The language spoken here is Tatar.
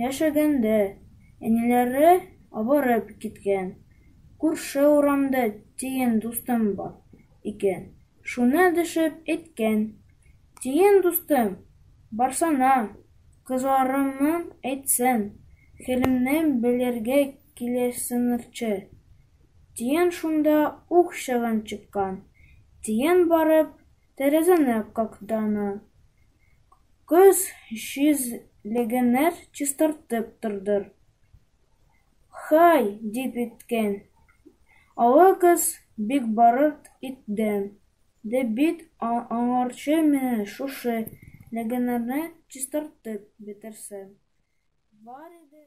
яшәгәндә, әниләре авырып киткән. Күрше урамда тиен дустым бар икән, шуна дәшеп әйткән. Тиен дустым, барсана, кызларымның әйтсен, хәлемне белергә киләсенрче. Тиен шунда ук чыгын чыккан. Тиен барып, тәрәзәне кактана. Көз чизлегенер чистартып тордыр. Хай, дип иткән. Олы кыз бик барырт итдем, ди бит аңарчы менә шушы легенерне чистартып бетерсәм. Бар иде.